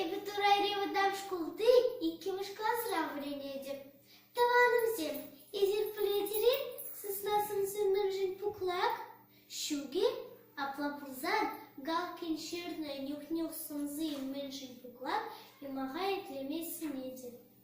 Эпӗ Турайри вӑтам шкулти иккӗмӗш класра вӗренетӗп. Тӑванӑмсем, эсир пӗлетӗр-и сысна сӑмсиннӗмшӗн пуклак? Ҫукӗ. Апла пулсан Галкин ҫырнӑ «Нюх-нюх сӑмси мӗншӗн пуклак» юмаха итлеме сӗнетӗп.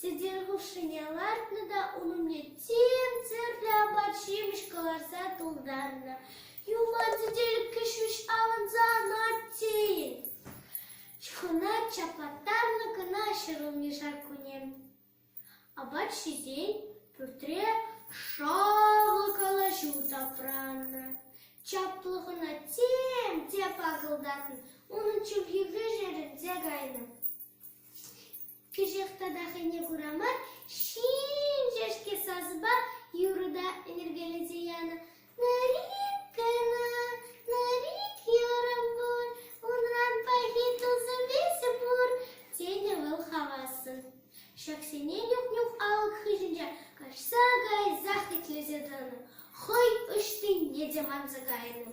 Сӗтел хушшине лартнӑ та ун умне тем тӗрлӗ апат-ҫимӗҫ кӑларса тултарнӑ. Юман сӗтелкке ҫеҫ авӑнса анать тейӗн. Чухӑна чаплаттарнӑ кӑна ҫӗрулми шарккуне. Апат ҫисен пӳртре шалӑ калаҫу тапраннӑ. Чаплӑ хӑна тем те пакӑлтатнӑ, унӑн чӗлхи вӗҫерӗнсе кайнӑ. Кӗҫех тата хӑйне кура мар ҫинҫешке сасӑпа юрӑ та ӗнӗркелесе янӑ. Нарик кӑна, нарик юрӑм пур, унран пахи тусӑм эсӗ пур, тенӗ вӑл хавассӑн. Ҫаксене нюх-нюх алӑк хыҫӗнче каҫса кайсах итлесе тӑнӑ, хӑй ӑҫтине те манса кайнӑ.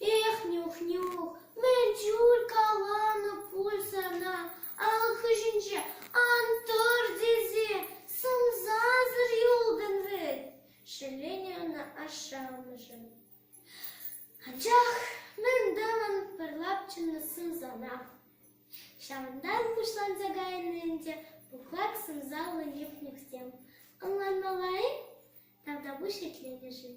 Эх, Нюх-Нюх, мӗн чуль каланӑ пуль сана ал хыҫӗнче ан тӑр тесе, сӑмсасӑр юлтӑн вӗт, шелленӗ ӑна ашшӗ-амӑшӗ. Анчах мӗн тӑвӑн пӗр лапчӑннӑ сӑмсана? Ҫавӑнтан пуҫланса кайнӑ ӗнтӗ пухлак сӑмсаллӑ Нюх-Нюхсем. Ӑнланмалла-и? Тавтапуҫ итлетӗшӗн.